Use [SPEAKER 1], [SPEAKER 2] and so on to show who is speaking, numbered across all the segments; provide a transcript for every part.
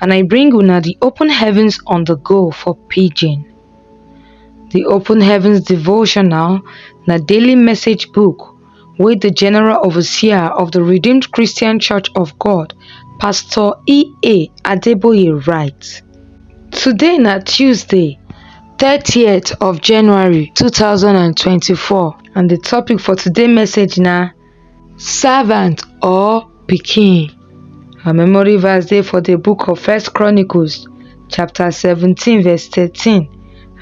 [SPEAKER 1] and I bring una the open heavens on the go for pidgin. The open heavens devotional na daily message book wey the general overseer of the Redeemed Christian Church of God, Pastor E.A. Adeboye write. Today na Tuesday, 30th of January 2024 and the topic for today message na Servant or pikin. Our memory verse dey for the book of First Chronicles chapter 17 verse 13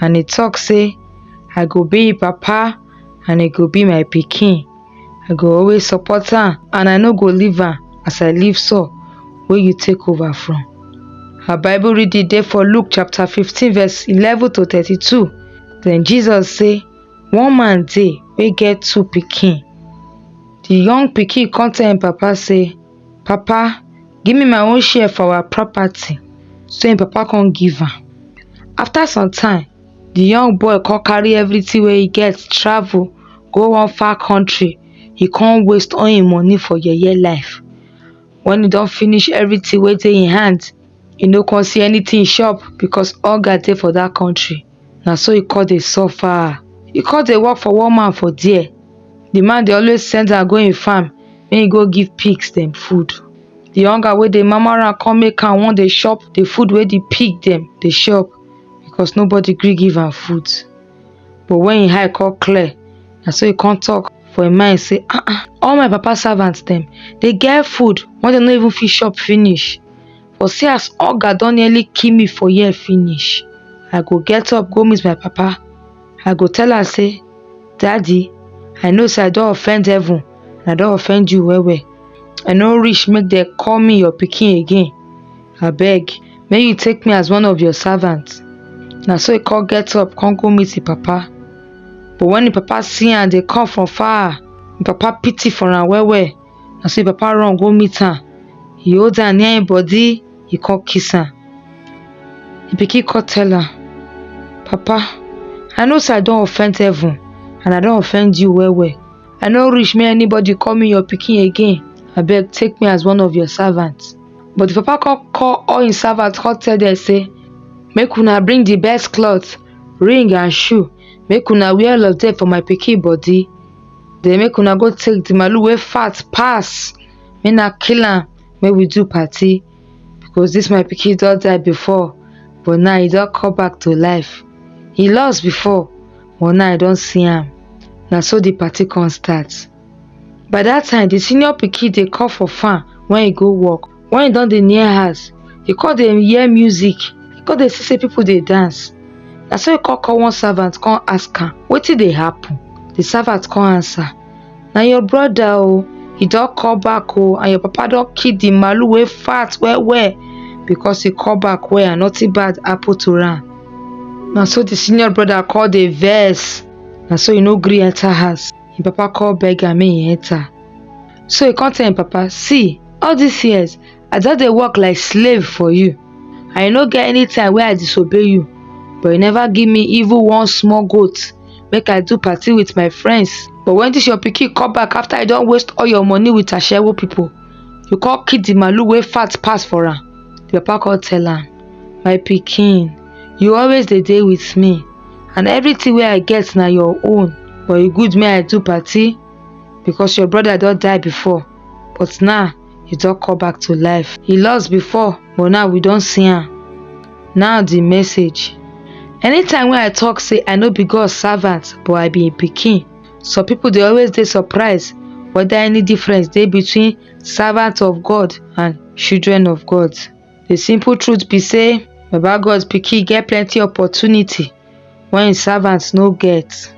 [SPEAKER 1] and e talk say I go be im papa and e go be my pikin. I go always support am and I no go leave am as I leave Saul wey you take over from. Our Bible reading dey for Luke chapter 15 verse 11 to 32. Then Jesus say, One man dey wey get two pikin. The young pikin con tell im papa sey, Papa, give me my own share for our property. So im papa con give am. After some time, the young boy con carry everything wey e get travel go one far country. E con waste all im money for yeye life. When e don finish everything wey dey im hand, e no con see anything chop because hunger dey for dat country. Na so e come dey suffer. E come dey work for one man for there. The man dey always send am go im farm make e go give pigs dem food. The hunger wey dey mama am come make am wan dey chop the food wey the pig dem dey chop because nobody gree give am food. But when im eye come clear, na so e come talk for im mind say, Ah ah, all my papa servant dem dey get food wey dem no even fit chop finish. for see as hunger don nearly kill me for here finish I go get up go meet my papa I go tell am say daddy I know say I don offend heaven and I don offend you well well I no reach make dem call me your pikin again abeg make you take me as one of your servants na so he come get up come go meet him papa but when him papa see am dey come from far him papa pity for am well well na so im papa run go meet am he hold am near im body he come kiss am the pikin come tell am papa i know say i don offend heaven and i don offend you well well i no reach make anybody call me your pikin again abeg take me as one of your servants but the papa come call all im servants come tell them say make una bring the best cloth ring and shoe make una wear all of them for my pikin body Then make una go take the malu wey fat pass. Make na kill am. Make we do party. Because this my pikin don die before. But now he don come back to life. He lost before. But now I don see am. Na so the party come start. By that time, the senior pikin dey call for farm when he go work. When he don dey near house, he come dey hear music, he come dey see say people dey dance. Na so he come call one servant come ask am wetin dey happen. The servant come answer, na your brother o, he don come back o and your papa don kill the malu wey fat well well because he come back well and nothing bad happen to am. Na so the senior brother come dey vex, na so he no gree enter house. Him papa come beg am make he enter. So he come tell him papa, see all dis years i just dey work like slave for you and e no get any time wey i disobey you but you never give me even one small goat make i do party with my friends but when dis your pikin come back after i don waste all your money with ashewo people you come kill the malu wey fat pass for am the papa come tell am my pikin you always dey dey with me and everything wey i get na your own but e good make i do party because your brother don die before but now he don come back to life. He lost before but now we don see am. Now the message. Anytime when I talk say I no be God servant but I be im pikin, some people dey always dey surprised whether any difference dey between servant of God and children of God. The simple truth be say Baba God pikin get plenty opportunity when im servants no get.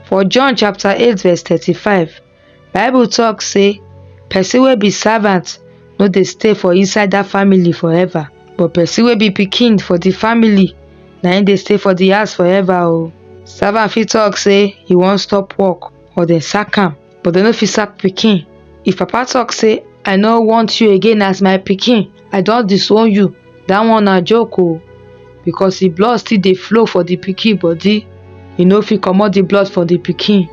[SPEAKER 1] For John chapter 8 verse 35, Bible talk say person wey be servant no dey stay for inside that family forever but person wey be pikin for the family na him dey stay for the house forever o. Servant fit talk say he wan stop work or dem sack am but dem no fit sack pikin. If papa talk say I no want you again as my pikin i don disown you dat one na joke o because the blood still dey flow for the pikin body e no fit comot the blood for the pikin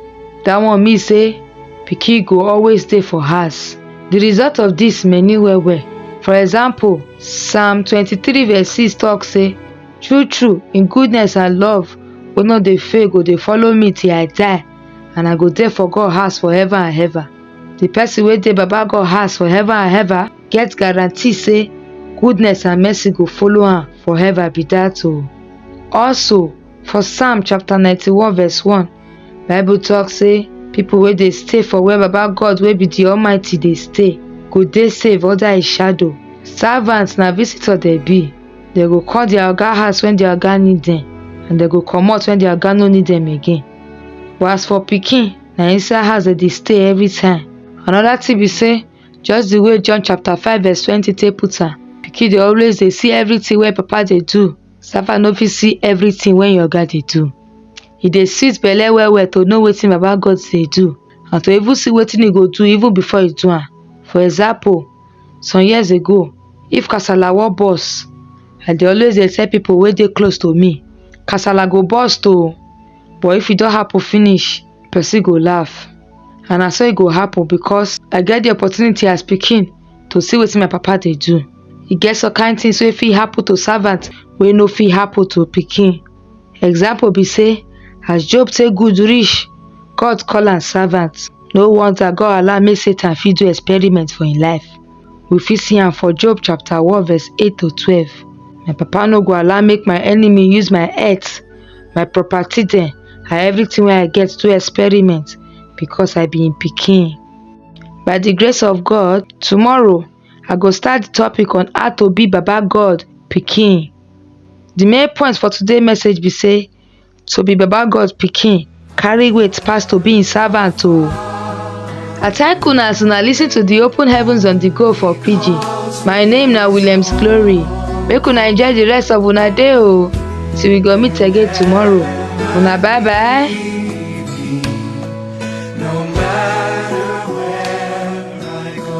[SPEAKER 1] dat one mean say pikin go always dey for house the result of this many well well for example psalm 23 verse 6 talk say true true in goodness and love wey no dey fail go dey follow me till i die and i go dey for god house forever and ever the person wey dey baba god house forever and ever get guarantee say goodness and mercy go follow am for heaven be dat o also for psalm chapter 91 verse 1 bible talk say people wey dey stay for where baba god wey be the almighty dey stay go dey safe under his shadow servants na visitor dey be dem go call their oga house when their oga need dem and dem go comot when their oga no need dem again but as for pikin na inside house dem dey stay every time another thing be say Just the way John chapter 5 verse 20 take put am, pikin dey always dey see everything wey papa dey do. Sapa no fit see everything wey your oga dey do. E dey sweet belle well well to know wetin Baba God dey do and to even see wetin e go do even before e do am. For example, some years ago, if kasala wan burst, I dey always dey tell people wey dey close to me, kasala go burst o, but if e don happen finish, person go laugh and na so e go happen because I get the opportunity as pikin to see wetin my papa dey do. E get some kind things wey fit happen to servant wey no fit happen to pikin. Example be say as Job take good reach, God call am servant. No wonder God allow make Satan fit do experiment for im life. We fit see am for Job chapter 1 verse 8 to 12. My papa no go allow make my enemy use my earth, my property dem, and everything wey I get to experiment because I be im pikin. By the grace of God, tomorrow I go start the topic on how to be Baba God pikin. The main point for today message be say To be Baba God pikin carry weight pass to be im servant o. I thank una as una lis ten to the open heavens on the go for pidgin. My name na Williams Glory. Make una enjoy the rest of una day o. Till we go meet again tomorrow. Una bye bye. No matter where I go.